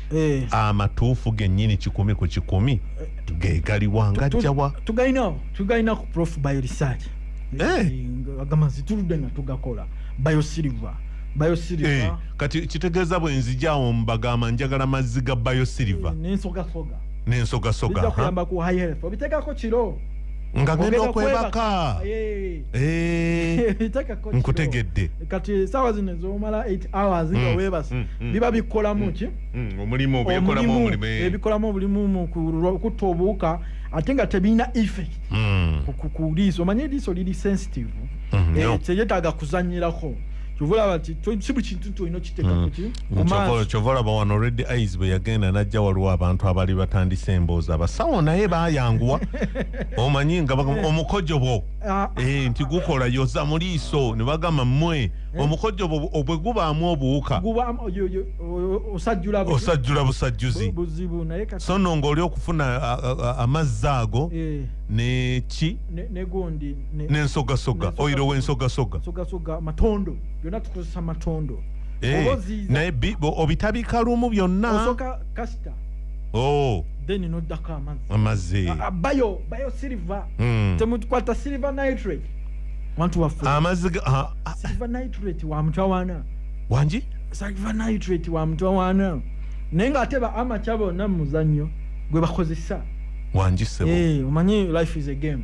eh. amatuufu genyini kikumi ku kikumi gegaliwa ngajjawa tugalina tugalina ku prof bio research eh. agamba nti tuludde nga tugakola bio silver Eh, kati kitegeeza bwenzijawo mbagamba njagala mazzi ga bayosilva nensogasoga nensogasoga nga ngenda okwebaka eh. nkutegedde kati esaawa zino ezomala 8 hours nga mm, webase mm, mm. biba bikolamu ki omulimu ebikolamu obulimu kutta obuwuka ate nga tebirina effect kuliiso omanye eriiso liri sensitive eh, teyetaaga kuzanyirako kyovulaba ti si buli kintu nti olina okiteeka kuki kyova olaba wano red eyes bwe yagenda najja waliwo abantu abali batandise emboozi abasawo naye bayanguwa omanyi nga omukojobo ah. eh, nti gukola yoza mu liiso ne bagamba mmwe eh. omukojobo obwe gubaamu obuwuka osajjula busajjuzi so no ng'oli okufuna amazzi ago eh. neki nensogasoga oyiro wensogasoga Eh, Oboziiza. naye bi- bo- obitabika lumu byonna osooka kasita Oh, then noddako amazzi amazzi Ah, ah, bayo bayo silver Mm. temukwata silver nitrate wantu waffe amazzi ga- ah, ah, silver nitrate wa mutawaana wangi silver nitrate wa mutawaana naye ng'ate ba amaca bonna mu muzannyo gwe bakozesa wangi sebo Eh, omanyi life is a game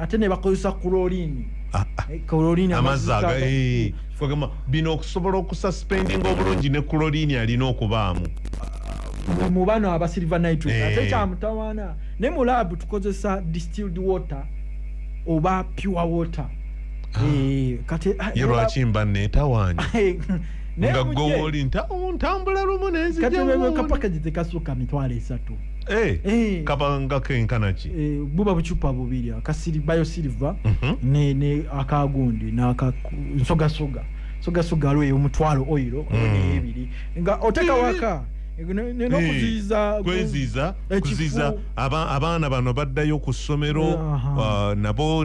ate nebakozesa kulolini ah, ah. eh, kulolini amazzi aga eh, kwegamba bino okusobola okususpendinga obulungi ne kulolini alina okubaamu ah, mu bano aba silver nitrit eh. ate kyamutawaana ne mu laabu tukozesa distilled water oba pure water kati ye lwaki mba neetawaanya nga gwe wooli ntambula lumu nenzijamu kati kapakagi tekasuka mitwalo esatu Eh, eh. kaba nga kenkana ki eh, buba bucupa bubiri akasiri bayo silver mm -hmm. ne, ne akagundi naka nsogasoga nsogasoga alweyo omutwalo oiro mm. neebiri nga oteka waka nokuziiza kweziiza kuziiza abaana bano baddayo ku ssomero uh, nabo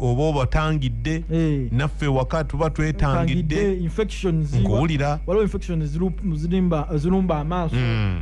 oba obatangidde eh. naffe waka tuba twetangidde nkuwulira zirumba amaaso mm.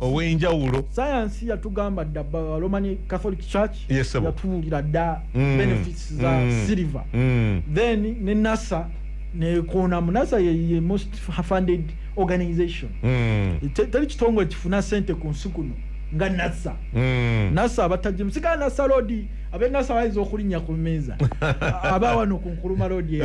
owenjawulo sayansi yatugamba dda roman catholic church yes, yatuwulira dda mm. benefits za mm. silver mm. then ne nasa nekonamu nasa ye, ye most funded organization mm. teri kitongole kifuna sente ku nsi kuno nga nasa mm. nasa abatajemu sigala nasa lodi abe nasa bayinza okulinnya ku mmeeza aba wano ku nkuluma lodi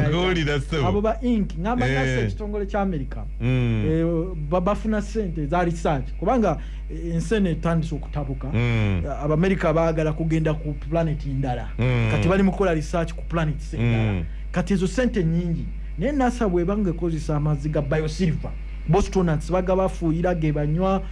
abo ba ink ngamba nasa eh. ekitongole kya america Mm. Eh, bafuna sente za research kubanga eh, ensene etandise okutabuka mm. eh, abamerika baagala kugenda ku planet ndala mm. kati bali mukola research ku planet endala mm. kati ezo sente nyingi naye nasa bwebanga ekozesa amazzi ga biosilver bostonats baga bafuuyira ge banywa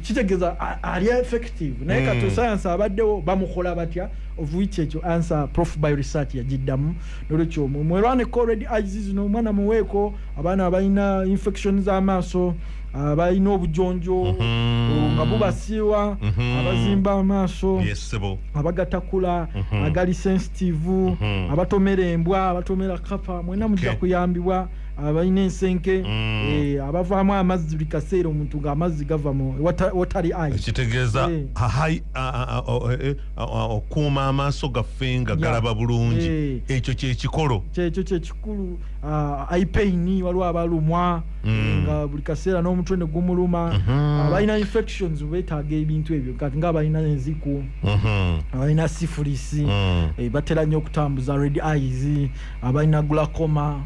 kitegeeza ali effective naye kati mm. sayansi abaddewo bamukola batya ovuiki ekyo ansa prof by research yagiddamu nolwekyo mwelwaneko red ices no omwana muweeko abaana abalina infection z'amaaso abalina obujonjo mhm. nga bubasiiwa mhm. abazimba amaaso abagatakula mhm. agali sensitive abatomera embwa abatomera kapa mwena mujja kuyambibwa abalina ensenke mm. eh, abavaamu amazzi buli kaseera omuntu ngaamazzi gava mu watali kitegeeza eh. eh, okuuma amaaso gaffe nga galaba bulungi ekyo kyekikolo kyekyo kyekikulu uh, ah, ipain waliwo abalumwa mm. nga buli kaseera n'omutwe ne gumuluma mm -hmm. abalina infections betaaga ebintu ebyo kati nga abalina enziku mm -hmm. abalina sifulisi mm. e, batera nnyo okutambuza red eyes abalina glacoma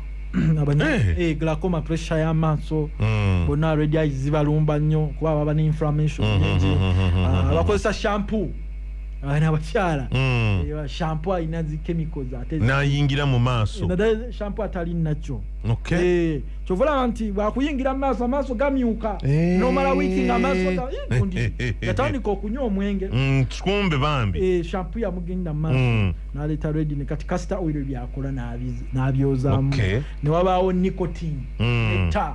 abanya hey. Eh. hey, eh, glacoma pressure y'amaaso mm. bonna red eyes zibalumba nnyo kuba baba ne inflammation mm -hmm. uh, bakozesa shampoo abaana abakyala Mm. Eh, shampoo alina zi chemicals ate zi- n'ayingira mu maaso naddala shampoo atali nakyo okay Eh, kyova olaba nti bwakuyingira mu maaso amaaso gamyuka Eh. nomala wiiki nga amaaso ga- eh, gundi. yatandika okunywa omwenge Mm, kumbe bambi Eh, shampoo yamugenda mu maaso Mm. naleeta redine kati kasita oil byakola n'abiz- n'abyozamu Okay. ne wabaawo nicotine Mm. etta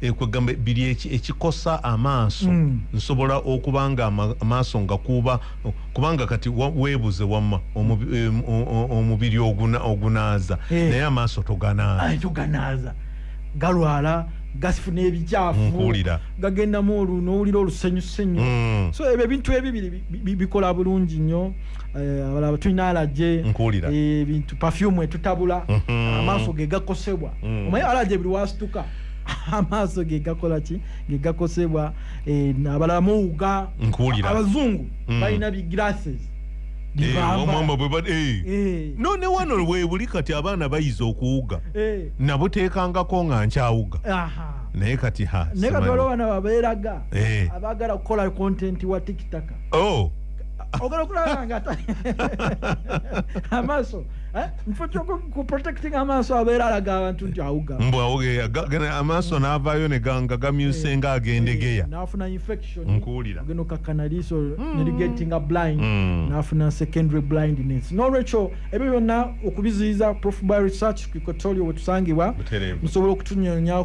Eh, kwegamba biri ekikosa amaaso mm. nsobola okuba nga amaaso nga kuba kubanga kati webuze wama omubiri ogunaaza eh. naye amaaso toganaaza galwala gasifuna ebikyafu gagendamu olu nowulira olusenyusenyu mm. so ebyo ebintu ebibiri bikola bulungi nnyo eh, abalaba tulina alaje ebintu pafyumu etutabula mm-hmm. amaaso ge gakosebwa mm. omaye alaje buli wasituka amaaso gegakola ki gegakosebwa eh, abalamu ga nkuwulira abazungu mm. balina bi glasses eh, eh. no ne wano webuli kati abaana bayiza okuwuga nabuteekangako nga nkyawuga naye kati ha naye kati waliwo bana babeeraga abaagala kukola kontenti wa tikitaka oh. ogala okulaba nga amaaso Eh? mufo kyoku protecting amaaso abeera alaga abantu nti awuga mbu awugeya amaaso mm. n'avaayo ne ganga gamyuse eh. nga agendegeya eh, n'afuna infection nkuwulira ogenda okakkana liiso mm. nerigetinga blind mm. n'afuna secondary blindness n'olwekyo ebyo byonna okubiziyiza prof by research kikotorio wetusangibwa musobola okutunyonyawo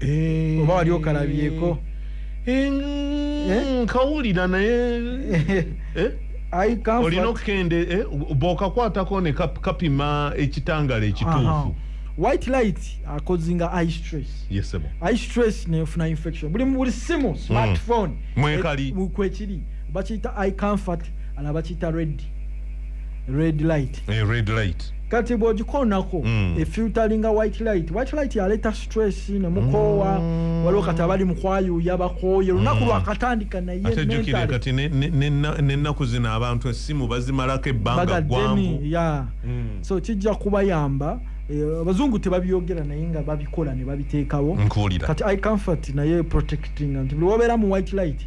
Eh. oba wali okalabyeko Eh, Eh? nkawulira naye eh? I comfort- olina okukende eh, bwokakwatako ne kap- kapima ekitangala Aha. ekituufu white light akozinga eye stress yesebo eye stress nefuna infection buli buli simu smartphone Mm. Mwekali. eh, mu- kwekiri bakiyita eye comfort ala bakiyita red red light Eh, red light kati bwogikoonako mm. efilteringa white light white light yaleeta stress ne mukoowa mm. waliwo kati abali mukwayuuya bakooye lunaku mm. lwakatandika nayenennaku zino abantu essimu bazimalako ebbanga gwangu yeah. mm. so kijja kubayamba Eh, abazungu tebabyogera naye nga babikola ne babiteekawo kati i comfort naye protecting nti buli wabeera mu white light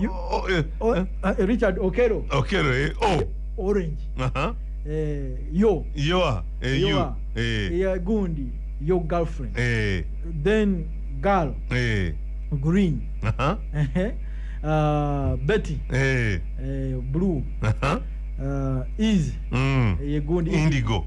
You- Oh, eh, o- eh, ah, richard okero Okero, eh, oh, orange aha. eh, yo Yoa, eh, you, Yoa, eh, yeah, gundi your girlfriend eh, then girl eh, green aha, ehe, ah, betty eh, eh, blue aha, ah, is mm. ye gundi Indigo.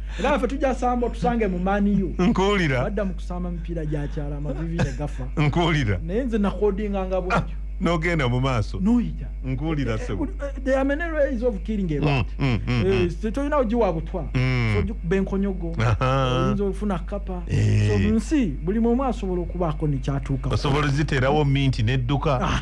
era ffe tujja samba otusange mu maniu nkuwulira badda mu kusamba mipiira gya kyala amavivi ne gafa nkuwulira naye nze nakodinga nga bwekyo ah, nogenda mu maaso noyita nkuwulira eh, sebo eh, the ameneres of killing ebat mm, mm, mm, eh, tetolina ogiwa butwa sojukuba enkonyogo oyinza ofuna kapa so nsi buli muomu asobola okubaako nekyatuuka osobola ziterawo minti nedduka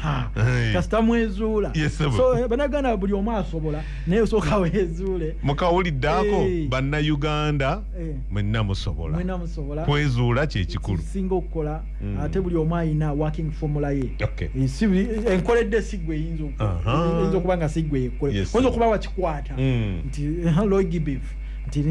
kasita mwezuula so banagana buli omu asobola naye osooka weezuule mukawuliddeako eh. bannayuganda eh. mwenna musobola kwezuula kyekikulu singa okukola mm. ate buli omu alina working formula ye eh, enkoledde sigwe eyinza okuba nga sigwe yekoyinza okuba wakikwata mm. nti loigibif nti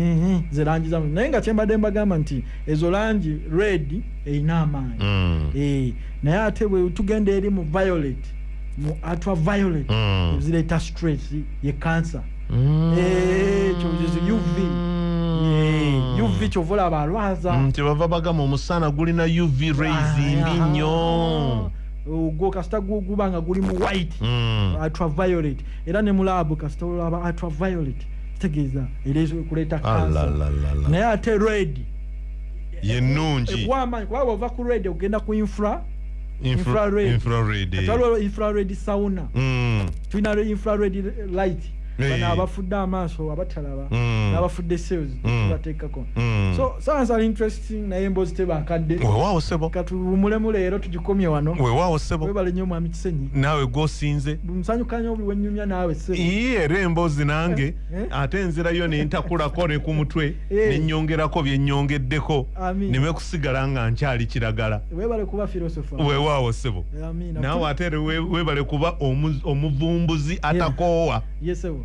ze langi zamu naye nga kyembadde mbagamba nti ezo langi red erina amaanyi mm. naye ate bwe tugenda eri mu violet mu atwa violent mm. ezireeta stress ye cancer mm. eh, ekyo mm. uv eh, uv kyova olaba alwaza mm, kyebava bagamba omusana gulina uv rays ah, mbi nnyo ah. ogwo kasita guba nga guli mu white mm. atwa violet era ne mulabu kasita olaba atwa violet kitegeeza era kuleeta cancer naye ate red yenungi eh, kuba bwova ku red ogenda ku infra Infrared. infrared eh. Kati waliwo infrared sauna Mm, tulina lwe infrared light Eh. bano abafudde amaaso abatalaba Mm. n'abafudde sales Mm. tubateekako mm. so sounds are interesting naye emboozi tebakadde wewaawo sebo katuwumulemu leero tugikomye wano wewaawo sebo webale nnyo mwami kisenyi naawe gwosinze musanyukanya buli wenyumya naawe sebo iye era emboozi nange Eh? ate enzirayo nentakulako ne ku mutwe eh. nenyongerako byenyongeddeko neme kusigala nga nkyali kiragala wewaawo sebo naawe ate webale kuba omuvumbuzi atakoowa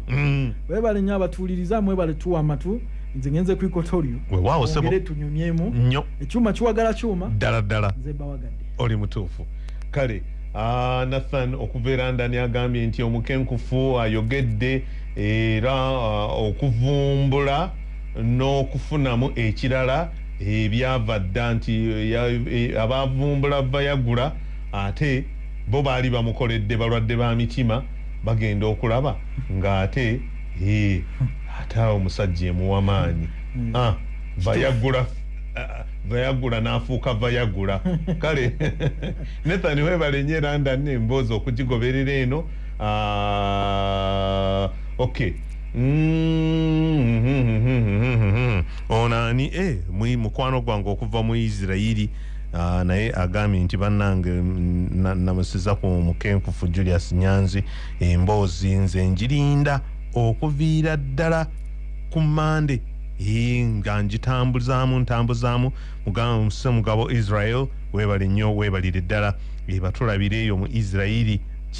mm. webale nyo abatuuliriza mwebale tuwa amatu nze ngenze kwikotorio wewaawo sebo tunyumyemu nyo ekyuma kiwagala kyuma ddala ddala nze bawagadde oli mutuufu kale ah, nathan okuva erandani agambye nti omukenkufu ayogedde era uh, okuvumbula n'okufunamu ekirala ebyava dda nti e, abavumbula vayagula ate bo baali bamukoledde balwadde ba mitima bagenda okulaba ng'ate e, ate awo omusajja emuwa maanyi hmm. ah, vayagula vayagula n'afuuka vayagula kale nethani webalenye era ndani emboozi okugigoberera eno Ah, okay Mm-hmm. ono ani e mwi mukwano gwange okuva mu isirairi ah, naye agambye nti bannange mm, namusiza ku mukenkufu julius nyanzi emboozi nze njirinda okuviira ddala ku mande nga njitambuzaamu ntambuzaamu mugabo israel webale nnyo webalire ddala ebatulabire eyo mu isirairi